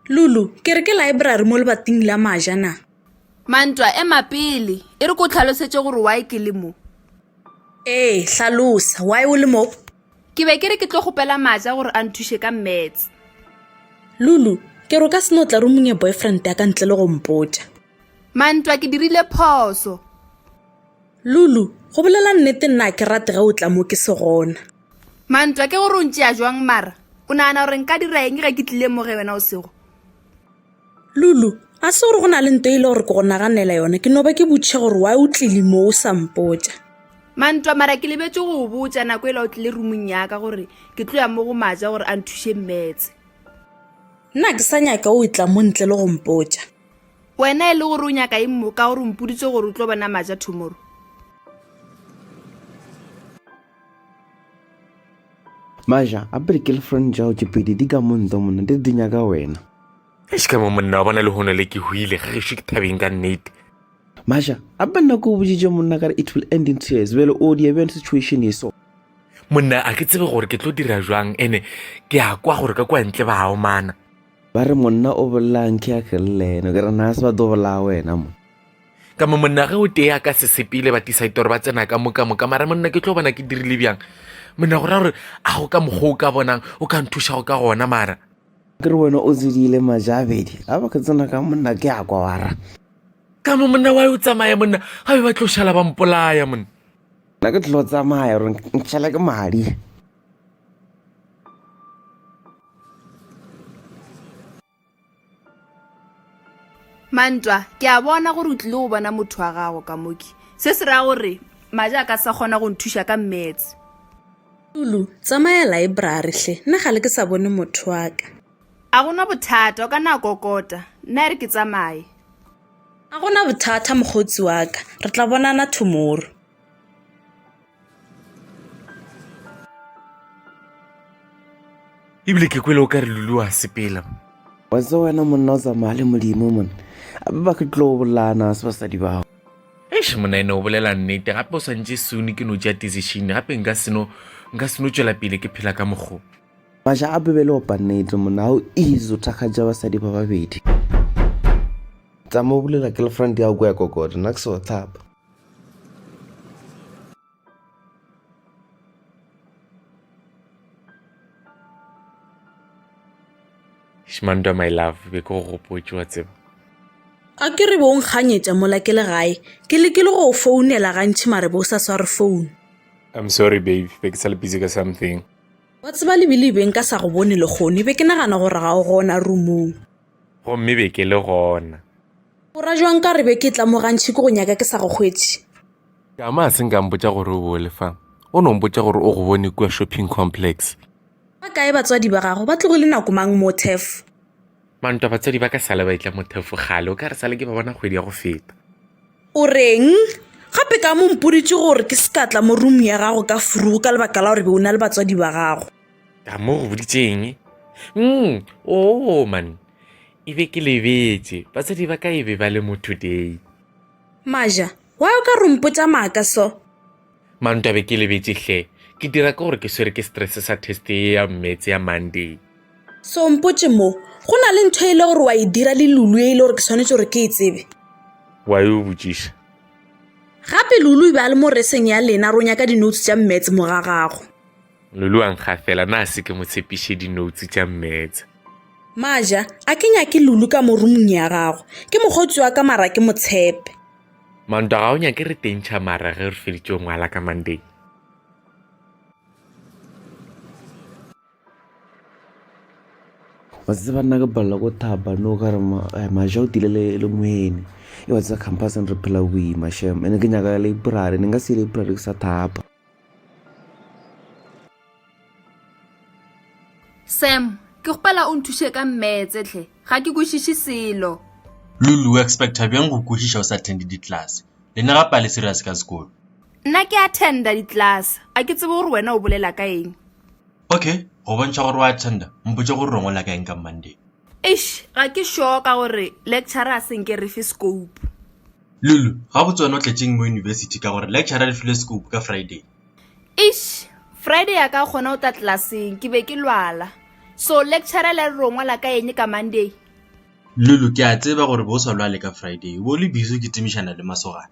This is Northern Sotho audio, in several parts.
Lulu, ke re ke library mo lebating la maja na? Mantwa, ema pele. E re ko tlhalosetše gore why ke le mo. Ee, hlalosa. Why o le mo? Ke be ke re ke tlo kgopela maja gore a nthuše ka maths. Lulu, ke re o ka seno tla rumong e boyfriend ya ka ntle le go mpotša. Mantwa, ke dirile phoso. Lulu, Go bolela nnete nna a ke rate ge o tla mo ke se gona. Mantwa, Ke gore o ntšea jwang mara? O nagana gore nka dira eng ge ke tlile mo ge wena o sego? Lulu, A se gore go na le nto e le gore ke go naganela yona, ke no ba ke botše gore why o tlile mo o sa mpotša. Mantwa, Mara ke lebetše go go botša nako e la o tlile roomong ya ka gore ke tlo ya mo go Maja gore a nthuše maths. Nna a ke sa nyaka o e tla mo ntle le go mpotša. Wena e le gore o nyaka eng mo ka gore o mpoditse gore o tlo bona maja tomorrow? Maja, a pele girlfriend tšao tše pedi di ka mo nto monna di re di nyaka wena. Eish ka mo monna wa bona le hono le ke huile ga gešo ke thabeng ka nnete. Maja, a pele nako o boditše monna ka re it will end in tears bjale o dia bjang situation e so. Monna a ke tsebe gore ke tlo dira jwang ene ke a kwa gore ka kwa ntle ba a omana. Ba re, Monna o bolelang ke a kelle eno? Ke re, Na se ba tlo bolaya wena mo? Ka mo monna ge o tee a ka se sepele ba tisa itoro ba tsena ka moka moka mara monna ke tlo bona ke dirile bjang monna go ra gore a go ka mokgwa o ka bonang o ka nthuša go ka gona mara ke re wena o tsedile majabedi a ba ke tsena ka monna ke a kwa wara ka mo monna wa o tsamaya monna ga be ba tlo šala ba mpolaya monna nna ke tlo tsamaya gore ntšhela ke madi mantwa ke a bona gore o tlile go bona motho wa gago ka moki se se raya gore maja a ka sa kgona go nthuša ka mmetse lulu tsamaya laebrary hle nna ga le ke sa bone motho wa ka a gona bothata o ka na kokota nna e re ke tsamaye a gona bothata mokgotsi wa ka re tla bonana tomorrow ebile ke kwele o ka re lulu wa sepela wa tse wena monna o tsamaya le modimo mone ape ba ke tlo bolana se basadi bao eish monna ene o bolela nnete gape o swantse sone ke no ja decision gape nka seno nka seno tswela pele ke phela ka mokgo maša a bebele opa nnete monna ga o easy o thakgatša basadi ba babedi tsamaya o bolela girlfriend ya go ya kokota nna ke se wa tlhapa Shmantwa my love be ke go gopotse wa tseba a ke re bo o nkganyetša mola ke le gae ke lekile go o founela gantšhi mare bo o sa sware founu I'm sorry babe be ke sa le busy ka something wa tseba lebile be nka sa go bone lekgone be ke nagana gore ga o gona roomong Gomme be ke le gona. O ra jwang ka re be ke tla mo gantši ke go nyaka ke sa go hwetše? Tšama a se nka mpotša gore o bole fa. O no mpotša gore o go bone kua shopping complex. Ba kae batswadi ba gago? Ba tlogile nako mang, Mothef? Mantwa, batswadi ba ka sale ba etla, Mothef, kgale. O ka re sale ke ba bona kgwedi ya go feta. O reng? Gape ka mo mpoditše gore ke se ka tla mo room ya gago ka furugu ka lebaka la gore be o na le batswadi ba gago. a mo go boditseng mm, o oh, man e be ke lebetse basadi ba ka e be ba le mo today maja wa o ka rompotsa maaka so manto be ke lebetse hle ke dira ka gore ke swere ke stress sa test e ya mmetse ya monday so mpotse mo go na le ntho e le gore wa e dira le lulu e e le gore ke tshwanetse gore ke e tsebe wa e o botsiša gape lulu e be a le mo reseng ya lena ronya ka dinotes tša mmetse mogagago Lulu wa nkgafela, na se ke mo tshepiše dinoutse tša mmetse. Maja, a ke nyake Lulu ka mo rumong ya gago. Ke mokgotsi wa ka mara ke motshepe. Manto, ga o nyake re tentšha mara ge re feditše ngwala ka Monday. wa tseba nna ke palela ko thaba no ka re eh, maja o tile le moene e wa tseba campuseng re phela boima shem ene ke nyaka library ne nka se library ke sa thapa Sam, ke kgopela o nthuše ka mmetse tlhe, ga ke kwešiše selo. Lulu, o expecta bjang go kwešiša o sa attende ditlase? Le ne gape a le serious ka sekolo. Nna ke attenda ditlase, a ke tsebe gore wena o bolela ka eng. Okay, go bontšha gore o attenda, mpotše gore o ngola ka eng ka Monday. Eish, ga ke sure ka gore lecturer a se nke re fe scope. Lulu, Gabotse wena o tletšeng mo yunibesithi ka gore lecturer re file scope ka Friday. Eish, Friday ya ka gona o tla tlelaseng ke be ke lwala. So lecturer le a re ro ngwala ka eng ka Monday? Lulu, Ke a tseba gore bo o sa lwale ka Friday, o bo o le busy o kitimišana le masogana.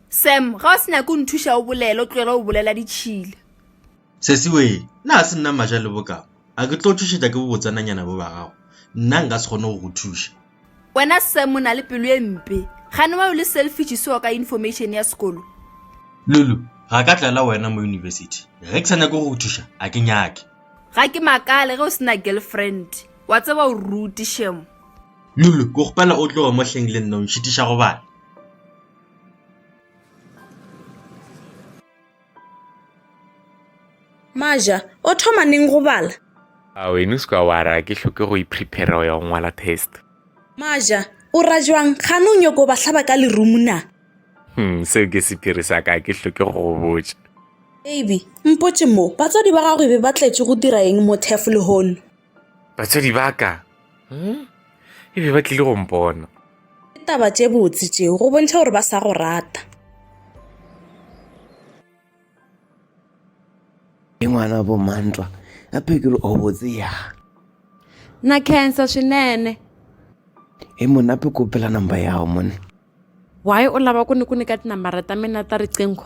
Sam, Ga o se nyake o nthuša o bolele, o tlogele go bolela ditšhila. Sesiwee, Na ga se nna Maja le bokama? A ke tlo tšhošetša ke bobotsananyana bo ba gago? Nna nka se kgone go go thuša. wena sam o na le pelo e mpe gane wa yo le selfish seo ka information ya sekolo lulu ga ka tlela wena mo university ge ke sa nyake go go thuša a ke nyake ga ke makale ge o sena girlfriend wa tseba o ruti shemo lulu ke gopela o tloge mo hleng le nna o nšitiša go bana Maja, o thoma neng go bala? A wena o se ka wa ra ke hloke go iprepare go ya go ngwala test. Maja, o ra jwang? Gane o nyoko ba hlaba ka lerumu na? Hmm, seo ke sepiri sa ka ke hloke go go botša. Baby, mpotše mo, batswadi ba gago e be ba tletše go dira eng mo turf lehono? Batswadi ba ka hmm? e be ba tlile go mpona. Ke taba tše botse tšeo go bontšha gore ba sa go rata. Ke ngwana bo Mantwa a phekelo o botse ya. Na cancer swinene. E mona pe kopela number ya gago mone. Why o lava ku ni ku nyika tinambara ta mina ta riqingho?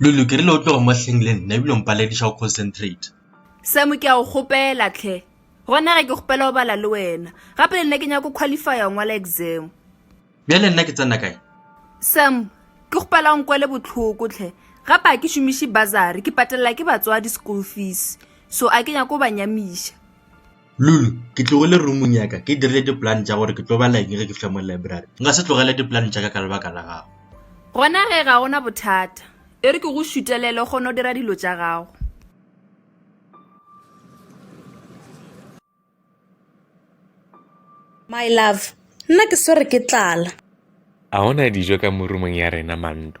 lulu ke rile o tlogo mo hleng le nna ebile mpalediša go concentrate semo ke a go kgopela tlhe gona ge ke kgopela go bala le wena gape le nna ke nyako qualifya go ngwala exam bja le nna ke tsena kae sam ke kgopela go nkwele botlhoko tlhe gape a ke šomiše bazare ke patelela ke batswadi school fees so a ke nyako go ba nyamiša Lulu, Ke tlogile roomong ya ka ke dirile dipolane tša gore ke tlo bala eng ge ke fihla mo library. Nka se tlogele dipolane tša ka ka lebaka la gago. Gona ge ga ona bothata, e re ke go šutelele o kgone go dira dilo tša gago. My love, Nna ke swere ke tlala. A go na dijo ka mo roomong ya rena, Manto?